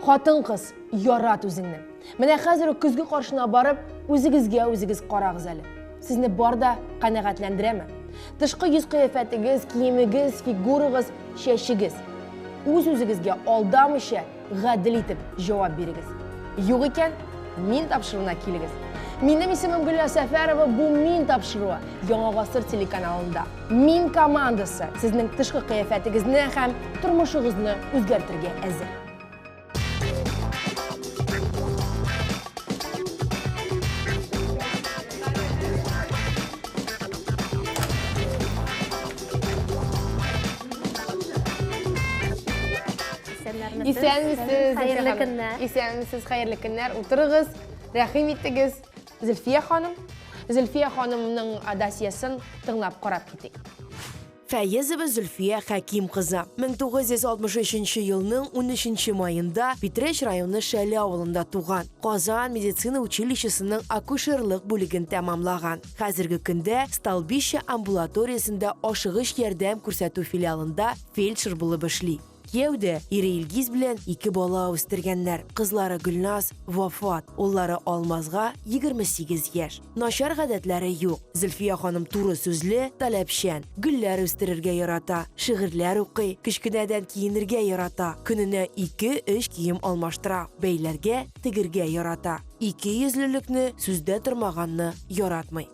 Хатын кыз, ярат үзеңне. Менә хәзер үк көзге каршына барып, үзегезгә үзегез карагыз әле. Сезне бар да канәгатьләндерәме? Тышкы йөз кыяфәтегез, киемегез, фигурагыз, чәчегез. Үз-үзегезгә алдамыйча, Гадел итеп җавап бирегез. Юк икән, мин тапшыруына килегез. Минем исемем Гөлназ Сәфәрова, бу Мин тапшыруы Яңа гасыр телеканалында. Мин командасы сезнең тышкы кыяфәтегезне һәм тормышыгызны үзгәртергә әзер. Исәнмесез, хәерле көннәр. Исәнмесез, хәерле көннәр. Утырыгыз, рәхим итегез. Зөлфия ханым, Зөлфия ханымның досьесын тыңлап карап китик. Фәезова Зөлфия Хәким кызы. 1963 елның 13 маенда Питрәч районы Шәле авылында туган. Казан медицина училищесының акушерлык бүлеген тәмамлаган. Хәзерге көндә Столбище амбулаториясендә ашыгыч ярдәм күрсәтү филиалында фельдшер булып эшли. Кияү дә, ире Илгиз белән ике бала үстергәннәр, кызлары Гөлназ, Вафат, уллары Алмазга 28 яшь. Начар гадәтләре юк. Зөлфия ханым туры сүзле, таләпчән. Гөлләр үстерергә ярата, шигырьләр укый, кечкенәдән киенергә ярата, көненә ике-өч кием алмаштыра, бәйләргә, тегергә ярата. Икейөзлелекне, сүздә тормаганны яратмый.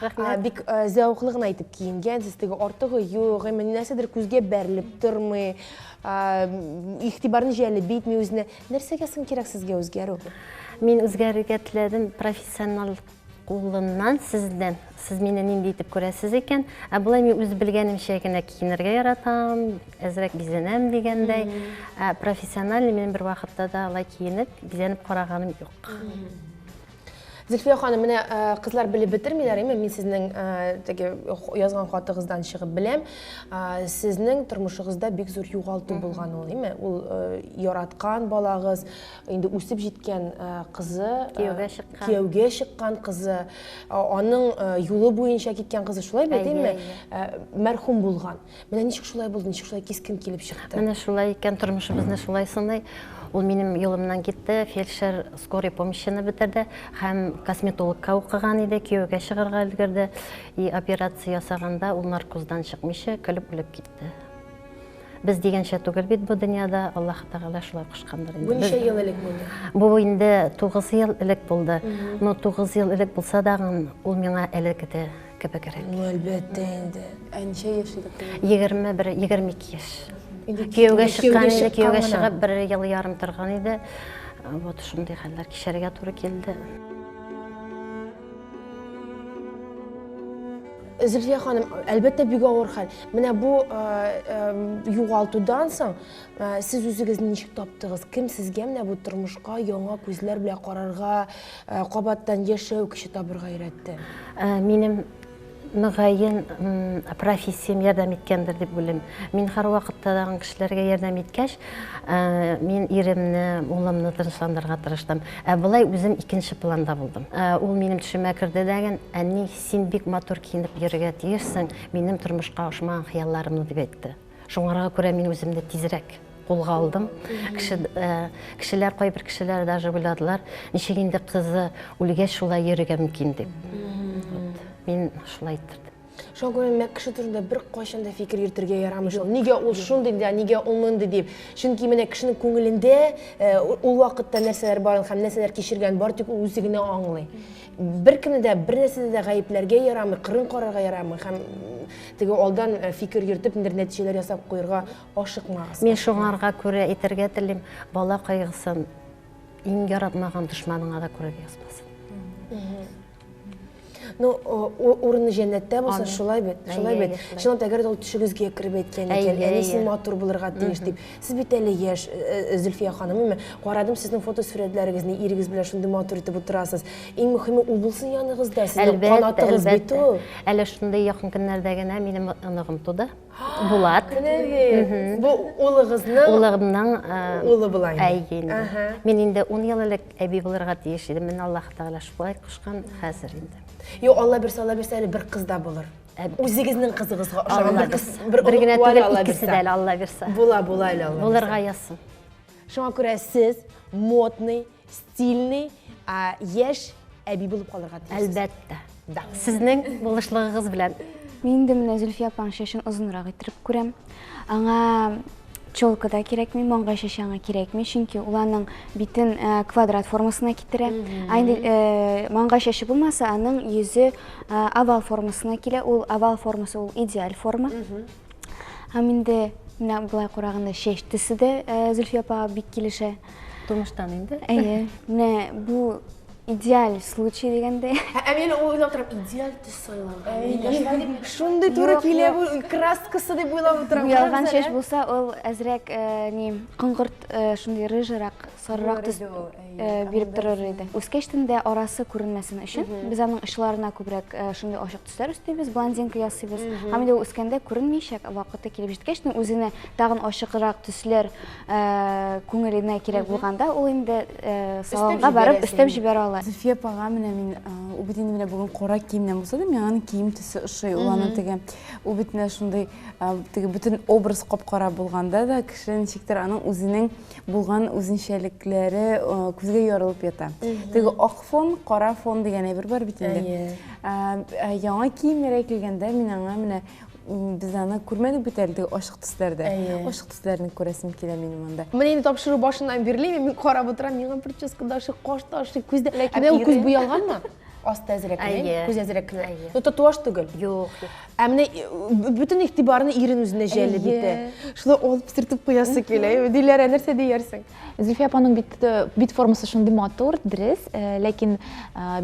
Рәхмәт. Бик зәвыклы гына итеп киенгәнсез, теге артыгы юк, әмма нәрсәдер күзгә бәрелеп тормый, игътибарны җәлеп итми үзенә. Нәрсәгә соң кирәк сезгә үзгәрү? Мин үзгәрергә теләдем профессионал кулыннан сездән сез мине нинди итеп күрәсез икән ә болай мин үз белгәнемчә генә киенергә яратам әзрәк бизәнәм дигәндәй ә профессиональный мин бер вакытта да алай киенеп бизәнеп караганым юк Зөлфия ханым, менә э, кызлар белеп бетермиләр, әмма мин сезнең э, теге язган хатыгыздан чыгып беләм, э, сезнең тормышыгызда бик зур югалту булган ул, әйме? Ул яраткан балагыз, инде үсеп җиткән кызы, кияүгә чыккан. Кияүгә чыккан кызы, аның юлы буенча киткән кызы, шулай бит, әйме? Мәрхүм булган. Менә ничек шулай булды, ничек шулай кискен килеп чыкты? Менә шулай икән, тормышыбызны шулай сыный. Ул минем юлымнан китте, фельдшер скорый помощьны бетерде һәм косметологка укыган иде, кияүгә чыгарга өлгерде. И операция ясаганда ул наркоздан чыкмыйча көлеп үлеп китте. Без дигәнчә түгел бит бу дөньяда, Аллаһ Тәгалә шулай кушкандыр инде. Бу ничә ел элек булды? Бу инде 9 ел элек булды. Но 9 ел элек булса да, ул миңа элек иде. кебегрәк. Ну, әлбәттә инде. Ә ничә яшь иде кыз? 21-22 яшь. Кияүгә чыккан инде, кияүгә чыгып бер ел ярым торган иде. Вот шундый хәлләр кичәргә туры килде. Зөлфия ханым, әлбәттә бик авыр хәл. Менә бу югалтудан соң Ә, сез үзегезне ничек таптыгыз? Кем сезгә менә бу тормышка яңа күзләр белән карарга, ә, кабаттан яшәү көче табырга өйрәтте? Ә, минем мөгаен профессиям ярдәм иткәндер дип уйлыйм. Мин һәрвакытта да кешеләргә ярдәм иткәч, ә, мин иремне, улымны тынычландырырга тырыштым. Ә былай үзем икенче планда булдым. Ә, ул минем төшемә керде дәген, әни, син бик матур киенеп йөрергә тиешсең, минем тормышка ошмаган хыялларымны дип әйтте. Шуңарга күрә мин үземне тизрәк кулга алдым. Кеше, э, кешеләр, кайбер кешеләр даже уйладылар, ничек инде кызы үлгәч шулай йөрергә мөмкин дип. Мин шулай иттердем. Шуңа күрә мәк кеше турында бер кайчан да фикер йөртергә ярамый шул. Нигә ул шундый да, нигә ул мондый дип. Чөнки менә кешенең күңелендә э, ул вакытта нәрсәләр барын һәм нәрсәләр кичергән бар тик ул үзе генә аңлый. Беркемне дә, бернәрсәдә дә гаепләргә ярамый, кырын карарга ярамый һәм теге алдан э, фикер йөртеп ниндер нәтиҗәләр ясап куярга ашыкмагыз. Мин шуңарга күрә әйтергә телим, бала кайгысын иң яратмаган дошманыңа да күрә язмасын. Ну, урыны җәннәттә булсын, шулай бит, шулай бит. Чынлап әгәр дә ул төшегезгә кереп әйткән икән, әни син матур булырга тиеш дип, Сез бит әле яшь, э, э, Зөлфия ханым, әмма карадым сезнең фотосурәтләрегезне, ирегез белән шундый матур итеп утырасыз. Иң мөһиме ул булсын яныңызда, сезнең канатыгыз бит ул. Әле шундый якын көннәрдә генә минем оныгым туды. Булат. Бу улыгызның улыгымның э, улы була инде. Әйе инде. Мин инде 10 ел элек әби булырга тиеш идем. Мин Аллаһ Тәгалә шулай кушкан хәзер инде. Юк, Алла бирсә, Алла бирсә әле бер кыз да булыр. Ә үзегезнең кызыгызга ошаган бер кыз, бер бер генә түгел, икесе дә әле Алла бирсә. Була, була әле Алла. Булырга язсын. Шуңа күрә сез модный, стильный, яшь әби булып калырга тиеш. Әлбәттә. Да. Сезнең булышлыгыгыз белән. Мин инде менә Зөлфия апаның чәчен озынрак иттереп күрәм. Аңа Челка да кирәкми, маңгай шешаңа кирәкми, чөнки ул аның битен э, квадрат формасына китерә. Ә инде э, маңгай шеше булмаса, аның йөзе э, овал формасына килә. Ул овал формасы, ул идеаль форма. Һәм инде менә болай караганда шеш төсе дә э, Зөлфия апага бик килешә. тумыштан инде әйе менә бу идеаль случай дигәндәй ә мин уйлап торам идеаль төс сайлау шундый туры килә бу краскасы дип уйлап утырам ялган чәч булса ул әзрәк э, не коңгырт э, шундый рыжырак сарырак төс э, биреп торыр иде үскәчтен дә арасы күренмәсен өчен без аның очларына күбрәк шундый ачык Төсләр өстибез, блондинка ясыйбыз. Һәм инде ул үскәндә күренмәячәк, вакыты килеп җиткәч, ну, үзенә тагын ачыграк төсләр э, күңеленә кирәк булганда, ул инде э, салонга барып җибәрәсең. өстәп җибәрә ала. Зөлфия апага менә мин, а, ул бит инде менә бүген кара киемнән булса да, миңа аның кием төсе ошый. Ул аның теге, ул бит менә шундый, а, теге бөтен образ кап-кара булганда да, кеше ничектер аның үзенең булган үзенчәлекләре күзгә ярылып ята. Теге ак фон, кара фон дигән әйбер бар бит инде. Яңа киемнәр килгәндә мин аңа менә без аны күрмәдек бит әле теге ачык төсләрдә. Ачык төсләрне күрәсем килә минем монда. Менә инде тапшыру башыннан бирле мин карап утырам, миңа прическа да ошый, каш та ошый, күз дә. Ләкин ул күз буялганмы? Асты әзрәк кенә, әйе, күз әзрәк кенә. Әйе. Ну, татуаж түгел. Юк, юк. Ә менә бөтен игътибарны ирен үзенә җәлеп итә. Шулай алып сертеп куясы килә. Диләрә, нәрсә диярсең? Зөлфия апаның бит бит формасы шундый матур, дөрес, ләкин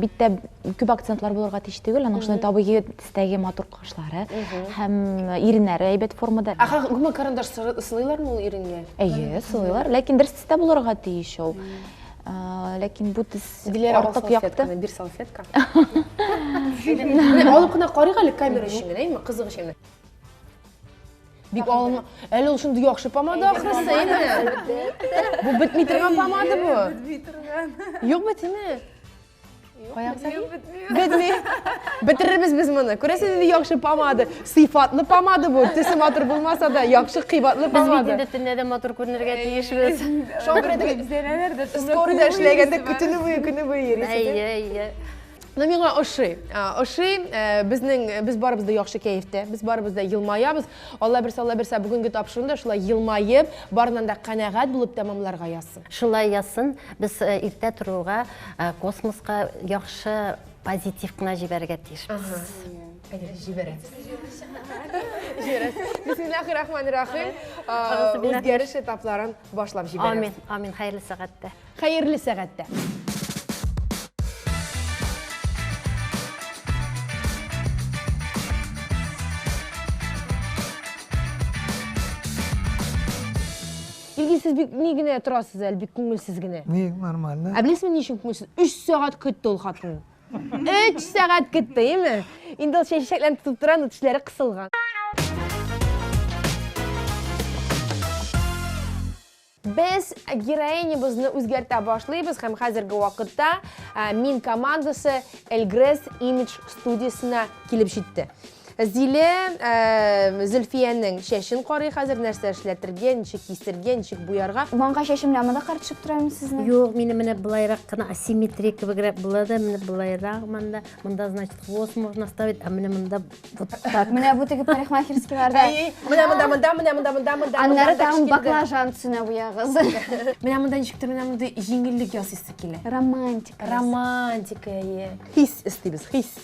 биттә күп акцентлар булырга тиеш түгел, аның шундый табигый төстәге матур кашлары һәм иреннәре әйбәт формада. Ә гомумән карандаш сылыйлармы ул иренгә? Әйе, сылыйлар, ләкин дөрес төстә булырга тиеш ул. ләкин бу төс артык якты. Бер салфетка. Алып кына карыйк әле камера өчен генә, әйме, кызык өчен. Бик алма. Әле ул шундый яхшы помада ахрысы, әйме. Бу бетми торган помада бу. Бетми торган. Юк бит, әйме. Каян сәлим? Бетми. Бетерербез без моны. Күрәсез инде яхшы помада. Сыйфатлы помада бу. Төсе матур булмаса да, яхшы кыйбатлы помада. Без бит төнлә дә матур күренергә тиешбез. Шуңа күрә дә зәләләр дә скорыйда эшләгәндә көтүне буе көне буе йөрисез. Әйе, әйе. Ну миңа ошый. Ошый. Э, безнең э, без барыбыз да яхшы кәефтә. Без барыбыз да елмаябыз. Алла бирсә, Алла бирсә, бүгенге тапшыруны да шулай елмаеп, барыннан да канәгать булып тәмамларга язсын. Шулай язсын. Без э, иртә торуга Ә, Космоска яхшы позитив кына җибәрергә тиешбез. Әйдә, җибәрәбез. Җибәрәбез. Бисмиллахир-рахманир-рахим. А, Әгъзубиллахи. Үзгәреш этапларын башлап җибәрәбез. Амин, амин, хәерле сәгатьтә. Хәерле сәгатьтә. Илгиз, сез бик ни генә торасыз әле, бик күңелсез генә. Ни, нормально. Ә беләсезме ни өчен күңелсез? 3 сәгать көтте ул хатын. 3 сәгать көтте, яме? Инде ул чәчәкләрен тотып тора, но тешләре кысылган. Без героинябызны үзгәртә башлыйбыз һәм хәзерге вакытта мин командасы Эльгрес Image студиясенә килеп җитте. Зилә Зөлфиянең чәчен карый хәзер, нәрсә эшләтергә, ничек кисергә, ничек буярга. Маңгай чәчем белән монда карап төшеп тора инде сезнең. Юк, минем менә болайрак кына, асимметрия кебегрәк була да, менә болайрак монда. Монда, значит, хвост можно оставить, а менә монда вот так. Менә бу теге парикмахерскийларда. Әй, менә монда, монда, менә монда, монда, монда. Аннары тагын баклажан төсенә буягыз. Менә монда ничек тә менә мондый җиңеллек ясыйсы килә. Романтика. Романтика, әйе. Хис эстибез, хис.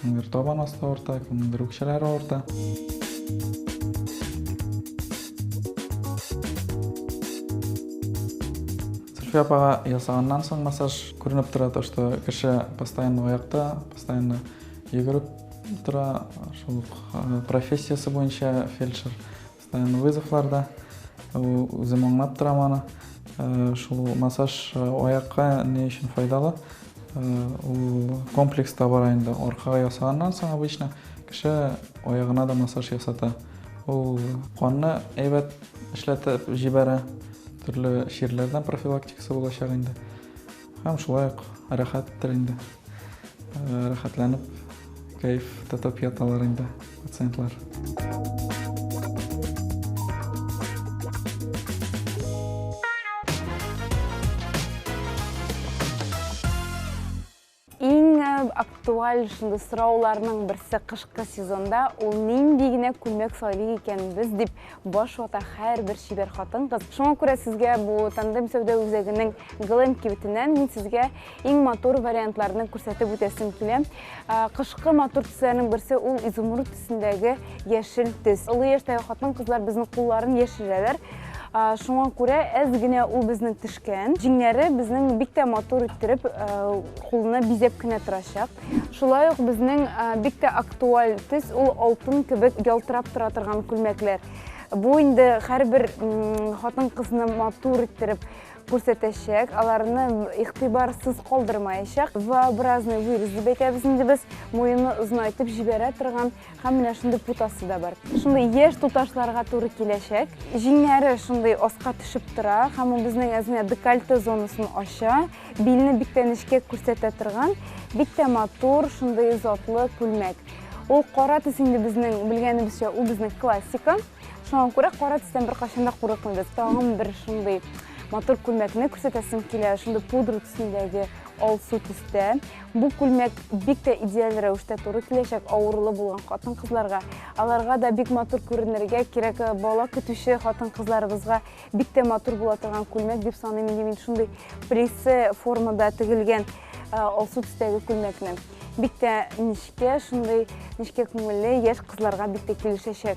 Кемдер табан асты авырта, кемдер үкчәләре авырта. Зөлфия апага ясаганнан соң массаж күренеп тора, то что кеше постоянно аякта, постоянно йөгереп тора, шул э, профессиясе буенча фельдшер. Постоянно вызовларда үзем аңлап торам аны. Э, шул массаж э, аякка не өчен файдалы? Э, ул комплекс та бар инде. Аркага ясаганнан соң обычно кеше аягына да массаж ясата. Ул канны әйбәт эшләтеп җибәрә. Төрле чирләрдән профилактикасы булачак инде. Һәм шулай ук рәхәттер инде. Э, рәхәтләнеп, кәеф тотып яталар инде пациентлар. Иң э, актуаль шундый сорауларның берсе кышкы сезонда ул нинди генә күлмәк сайлый икән без дип Баш вата һәрбер чибәр хатын-кыз. Шуңа күрә сезгә бу тандем сәүдә үзәгенең Глэм кибетеннән мин сезгә иң матур вариантларны күрсәтеп үтәсем килә. Кышкы матур төсләрнең берсе ул изумруд төсендәге яшел төс. Олы яшьтәге хатын-кызлар безнең кулларын яшерәләр. Шуңа күрә әз генә ул безнең төшкән. Җиңнәре безнең бик тә матур иттереп кулны бизәп кенә торачак. Шулай ук безнең бик тә актуаль төс ул алтын кебек ялтырап тора торган күлмәкләр. Бу инде һәрбер хатын кызны матур иттереп күрсәтәчәк, аларны игътибарсыз калдырмаячак. Вообразный вырез дип әйтәбез инде без, муены озынайтып җибәрә торган Һәм менә шундый путасы да бар. Шундый яшь туташларга туры киләчәк. Җиңнәре шундый аска төшеп тора, һәм ул безнең әзенә декольте зонасын ача, билне бик тә нечкә күрсәтә торган, бик тә матур, шундый затлы күлмәк. Ул кара төс инде безнең белгәнебезчә, ул безнең классика. Шуңа күрә кара төстән беркайчан да курыкмыйбыз. Тагын бер шундый матур күлмәкне күрсәтәсем килә, шундый пудра төсендәге алсу төстә. Бу күлмәк бик тә идеаль рәвештә туры киләчәк авырулы булган хатын-кызларга. Аларга да бик матур күренергә кирәк. Э, бала көтүче хатын-кызларыбызга бик тә матур була торган күлмәк дип саныйм инде мин шундый прессе формада тегелгән э, алсу төстәге күлмәкне. Бик тә нечкә, шундый нечкә күңелле яшь кызларга бик тә килешәчәк.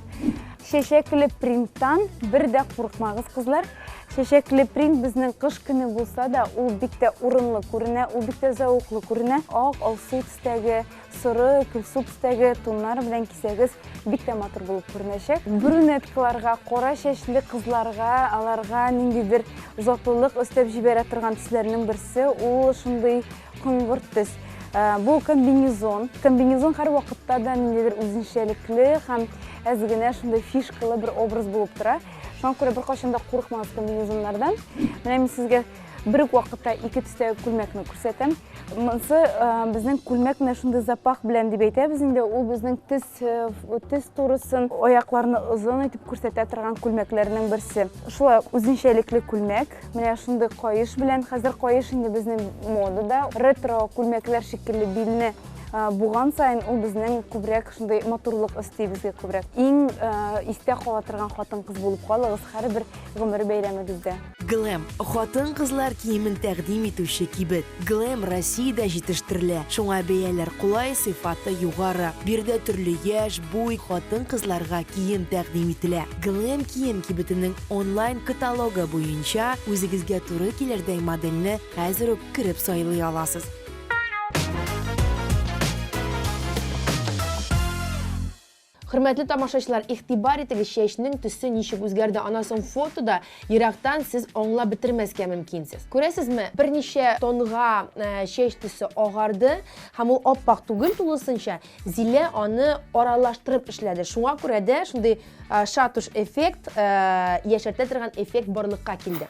Чәчәкле принттан бер дә курыкмагыз, кызлар. Чәчәкле принт безнең кыш көне булса да, ул бик тә урынлы күренә, ул бик тә зәвыклы күренә. Ак, алсу төстәге, соры, көлсу төстәге тоннар белән кисәгез бик тә матур булып күренәчәк. Брюнеткаларга, кара чәчле кызларга, аларга ниндидер затлылык өстәп җибәрә торган төсләрнең берсе, ул шундый коңгырт төс. Э, бу комбинезон. Комбинезон һәр вакытта да ниндидер үзенчәлекле һәм әз генә шундый фишкалы бер образ булып тора. Шуңа күрә беркайчан да курыкмагыз комбинезоннардан. Менә мин сезгә бер үк вакытта ике төстә күлмәкне күрсәтәм. Монсы безнең күлмәк менә шундый запах белән дип әйтәбез инде. Ул безнең төс төс турысын, аякларны озын итеп күрсәтә торган күлмәкләрнең берсе. Шулай үзенчәлекле күлмәк. Менә шундый каеш белән. Хәзер каеш инде безнең модада. Ретро күлмәкләр шикелле билне Буган сайын ул безнең күбрәк шундый матурлык өсти безгә күбрәк. Иң истә кала торган хатын-кыз булып калыгыз һәрбер гомер бәйрәмегездә. Глэм, хатын-кызлар киемен тәкъдим итүче кибет. Глэм Россиядә җитештерелә, шуңа бәяләр кулай, сыйфаты югары. Биредә төрле яшь, буй, хатын-кызларга кием тәкъдим ителә. Глэм кием кибетенең онлайн каталогы буенча үзегезгә туры килердәй модельне хәзер үк кереп сайлый аласыз. Хөрмәтле тамашачылар, игътибар итегез, чәчнең төсе ничек үзгәрде, аннан соң фотода ерактан сез аңлап бетермәскә мөмкинсез. Күрәсезме, берничә тонга э, чәч төсе агарды һәм ул аппак түгел тулысынча, Зилә аны аралаштырып эшләде. Шуңа күрә дә шундый э, шатуш эффект, э, яшәртә торган эффект барлыкка килде.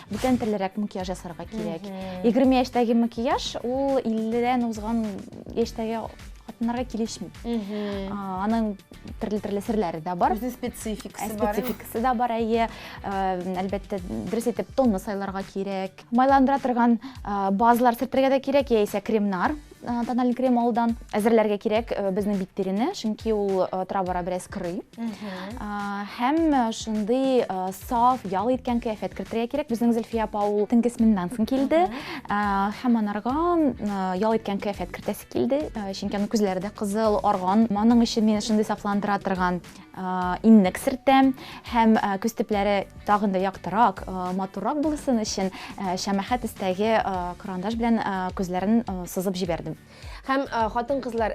Бүтән телерәк макияж ясарга кирәк. 20 яшьтәге макияж ул 50-дән узган яшьтәге хатыннарга килешми. Аның төрле-төрле серләре дә бар. Үзенең спецификасы бар. Спецификасы да бар, әйе. Әлбәттә, дөрес итеп тонны сайларга кирәк. Майландыра торган базалар сөртергә дә кирәк, яисә кремнар. тональный крем алудан әзерләргә кирәк э, безнең бит тирене чөнки ул э, тора бара бераз кырый һәм э, шундый саф ял иткән кыяфәт кертергә кирәк безнең зөлфия апа ул төнге сменадан соң килде һәм анарга ял иткән кыяфәт кертәсе килде чөнки аның күзләре дә кызыл арган моның өчен мине шундый сафландыра торган иннек сертәм һәм күз төпләре тагын да яктырак, матуррак булсын өчен шәмәхә төстәге карандаш белән күзләрен сызып җибәрдем. Һәм хатын-кызлар,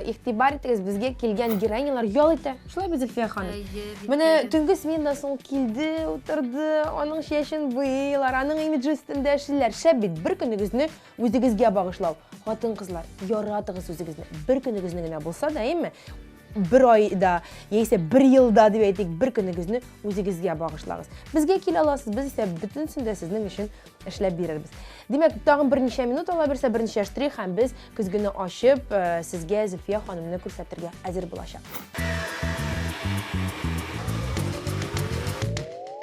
игътибар итегез, безгә килгән героинялар ял итә. Шулай бит, Зөлфия ханым? Менә төнге сменадан соң килде, утырды, аның чәчен буйлар, аның имиджы өстендә эшлиләр. Шәп бит, бер көнегезне үзегезгә багышлау. Хатын-кызлар, яратыгыз үзегезне. Бер көнегезне генә булса да, әйеме? бер айда яисә бер елда дип әйтик бер көнегезне үзегезгә багышлагыз безгә килә аласыз без исә бөтенесен дә сезнең өчен эшләп бирербез димәк тагын берничә минут ала бирсә берничә штрих һәм без көзгене ачып э, сезгә зөлфия ханымны күрсәтергә әзер булачак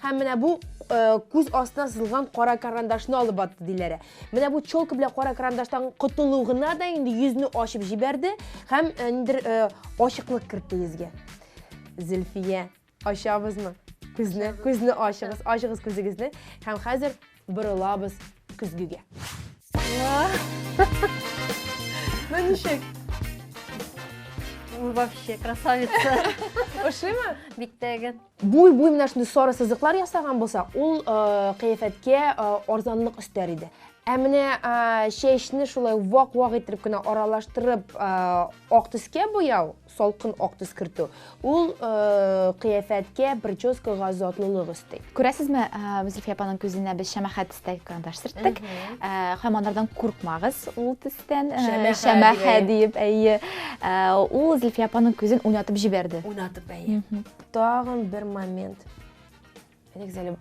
Һәм менә бу э, күз астына сызылган кара карандашны алып атты диләре. Менә бу челка белән кара карандаштан котылу гына да инде йөзне ачып җибәрде һәм э, ниндер э, ачыклык кертте йөзгә. Зөлфия, ачабызмы? Күзне, күзне ачыгыз, ачыгыз күзегезне һәм хәзер борылабыз көзгегә. Ну ничек? Ул вообще красавица. Ошыймы? Бик тәген. Буй буй менә шундый сары сызыклар ясаган булса, ул э, кыяфәткә э, арзанлык өстәр иде. Ә менә э, чәчне шулай вак-вак итеп кенә аралаштырып, ак төскә буяу, салкын ак төс кертү ул э, кыяфәткә прическага затлылык өсти күрәсезме э, зөлфия апаның күзенә без шәмәхәт төстәге карандаш сөрттек э, һәм анардан куркмагыз ул төстән шәмәхә диеп әйе ул зөлфия апаның күзен уйнатып җибәрде уйнатып әйе тагын бер момент Нигезәле,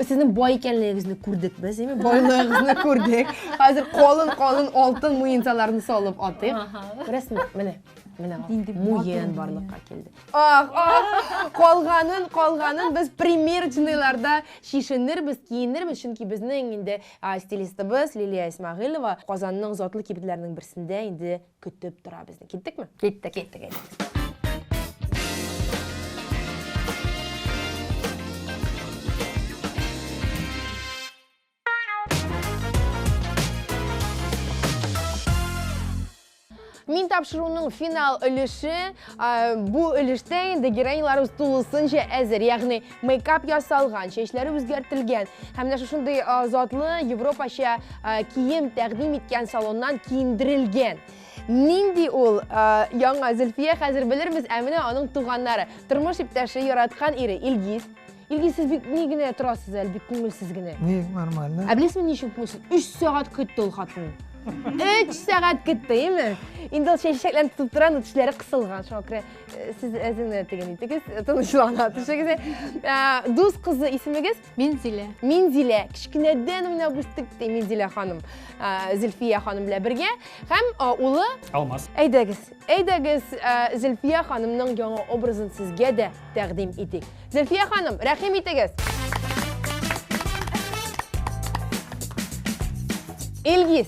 сезнең бай икәнлегегезне күрдек без, әйме? Байлыгыгызны күрдек. Хәзер калын-калын алтын муенсаларны салып атыйк. Күрәсезме? Менә. Менә муен барлыкка килде. Ах, ах, калганын, калганын без примерочныйларда чишенербез, киенербез, чөнки безнең инде стилистыбыз Лилия Исмагыйлова Казанның затлы кибетләренең берсендә инде көтеп тора безне. Киттекме? Киттек. Киттек. Мин тапшыруның финал өлеше, бу өлештә инде героиньларыбыз тулысынча әзер. Ягъни мейкап ясалган, чәчләре үзгәртелгән һәм менә шушындый затлы европача кием тәкъдим иткән салоннан киендерелгән. Нинди ул яңа Зөлфия хәзер белербез, ә менә аның туганнары. Тормыш иптәше, яраткан ире Илгиз. Илгиз, сез бик ни генә торасыз әле, бик күңелсез генә. Ни, нормально. Ә беләсезме ни өчен күңелсез? 3 сәгать көтте ул хатын. 3 сәгать көтте, име? Инде ул чәчәкләрен тотып тора, но тешләре кысылган, шуңа күрә Сез әзенә теген итегез, тынычлана төшегез. Дус кызы исемегез? Минзилә. Минзилә. Кичкенәдән уйнап үстек ди Минзилә ханым. Зилфия ханым белән бергә һәм улы Алмаз. Әйдәгез, әйдәгез, Зилфия ханымның яңа образын сезгә дә тәкъдим итик. Зилфия ханым, рәхим итегез. Илгиз,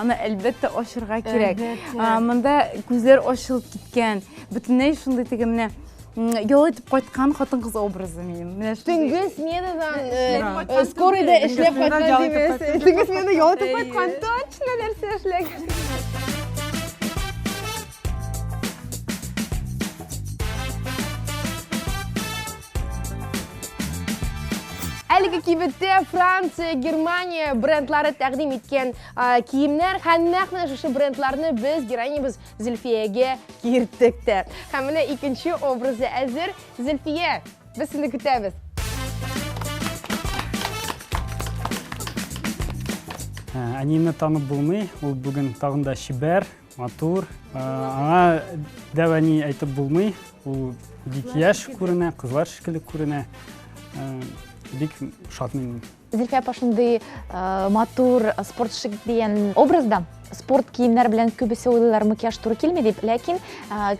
Аны әлбәттә ачырга кирәк. Монда күзләр ачылып киткән. Бөтенләй шундый теге менә ял итеп кайткан хатын кыз образы минем. Менә төнге сменадан э, скорыйда эшләп кайткан димәс. Төнге сменада ял итеп кайткан точно нәрсә эшләгән. Әлеге кибеттә Франция, Германия брендлары тәкъдим иткән киемнәр һәм нәкъ менә шушы брендларны без героинябыз Зөлфиягә кирттек тә. Һәм менә икенче образы әзер. Зөлфия, без сине көтәбез. Әниемне танып булмый, ул бүген тагын да чибәр, Матур. Аңа дәва ни әйтеп булмый. Ул бик яшь күренә, кызлар шикелле күренә. Бик шатмын. Зилфә апа шундый матур спортшик дигән образда спорт киемнәр белән күбесе уйлыйлар макияж туры килми дип ләкин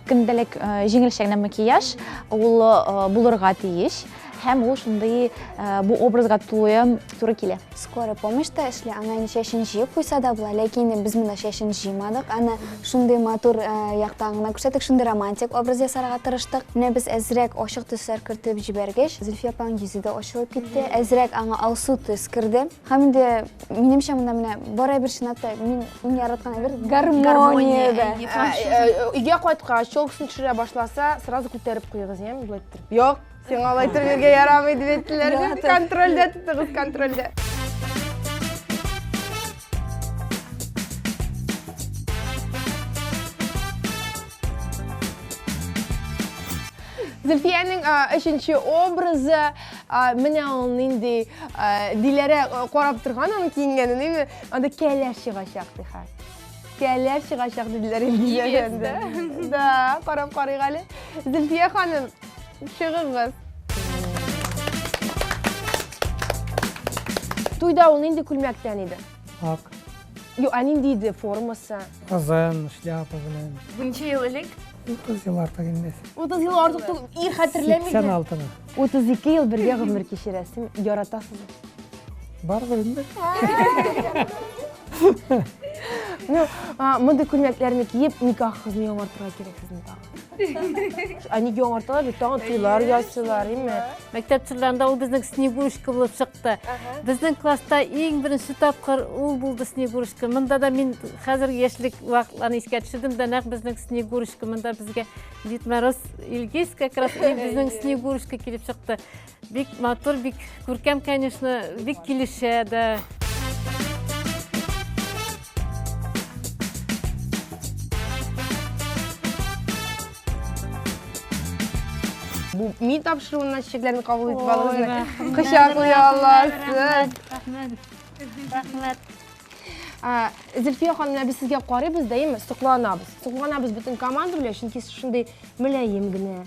көндәлек җиңелчә макияж ул булырга тиеш һәм ул шундый бу образга тулы туры килә Скорый помощь та эшли, ана инде чәчен җыеп куйса да була, ләкин инде без монда чәчен җыймадык. Аны шундый матур э, яктан гына күрсәттек, шундый романтик образ ясарга тырыштык. Менә без әзрәк ачык төсләр кертеп җибәргәч, Зөлфия апаның йөзе дә ачылып китте. Әзрәк аңа алсу төс керде. Һәм инде минемчә монда менә бар әйбер чынлап та мин иң яраткан әйбер гармония. да. Ә, э, Өйгә кайткач, челкасын төшерә башласа, сразу күтәреп куегыз, яме, былай иттереп. Юк, Сиңа алай төрергә ярамый дип әйттеләр. Контрольдә тотыгыз, контрольдә. Зөлфиянең өченче образы менә ул нинди Диләрә карап торган аның киенгәнен, анда кәләш чыгачак ди хәзер. Кәләр чыгачак диделәр Илгизә әфәнде. Да, карап карыйк әле. Зөлфия ханым, чыгыгыз. Туйда ул нинди күлмәктән иде? Ак. Ю, а нинди иде формасы? Казан, шляпа белән. Ничә ел элек? 30 ел артык инде. 30 ел артык түгел, ир хәтерләмиде. 86-ны. 32 ел бергә гомер кичерәсең, яратасың. Барыбер инде. Ну, мондый күлмәкләрне киеп, никах кызны яңартырга кирәк сезне тагын. Они яңарталар, тагын туйлар ясыйлар, име? Мәктәп чорларында ул безнең Снегурочка булып чыкты. Безнең класста иң беренче тапкыр ул булды Снегурочка. Монда да мин хәзер яшьлек вакытларны искә төшердем дә, нәкъ безнең Снегурочка монда безгә Дид Мороз Илгиз как раз безнең Снегурушка килеп чыкты. Бик матур, бик күркәм, конечно, бик килешә дә. Бу ми тапшыруына чикләрне кабул итеп алыгыз. Кочаклый аласыз. Рәхмәт. Рәхмәт. зөлфия ханым менә без сезгә карыйбыз да эми сокланабыз сокланабыз бөтен команда белән чөнки сез шундый мөлаем генә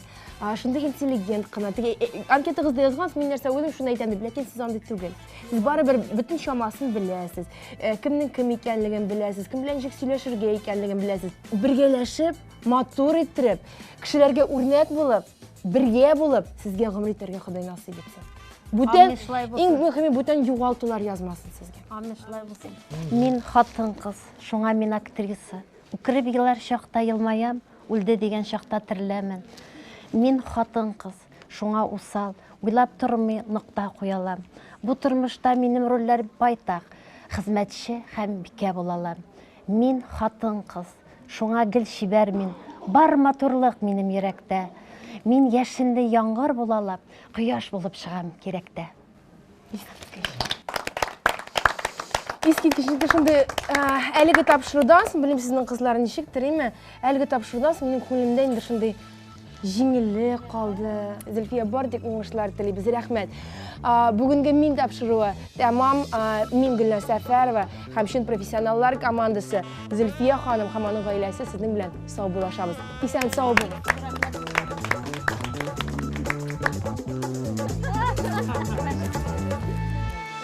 шундый интеллигент кына теге э, э, анкетагызда язгансыз мин нәрсә уйлыйм шуны әйтәм дип ләкин сез андый түгел сез барыбер бөтен чамасын беләсез э, кемнең кем икәнлеген беләсез кем белән ничек сөйләшергә икәнлеген беләсез бергәләшеп матур иттереп кешеләргә үрнәк булып Бергә булып, сезгә гомер итәргә Ходай насыйп итсен. Бүтән, Амин, шулай булсын. иң мөхиме бүтән югалтулар язмасын сезгә. Амин, шулай булсын. Мин хатын кыз, шуңа мин актриса. Үкереп елар чакта елмаям, үлде дигән чакта тереләмен. Мин хатын кыз, шуңа усал, уйлап тормый нокта куялам. Бу тормышта минем рольләр байтак, хезмәтче һәм бикә булалам. Мин хатын-кыз, шуңа гел чибәр мин, Бар матурлык минем йөрәктә. Мин яшенле яңгыр булалап, Кояш булып чыгам кирәктә. Искиткеч, инде шундый әлеге тапшырудан соң, белмим, сезнең кызлар ничек, териме, әлеге тапшырудан соң минем күңелемдә инде шундый Җиңеллек калды. Зөлфия, бардык уңышлар телибез. Рәхмәт. Бүгенге мин тапшыруы тәмам мин Гөлназ Сәфәрова һәм чын профессионаллар командасы Зөлфия ханым һәм аның гаиләсе сезнең белән сау булашабыз. Исән сау булыгыз.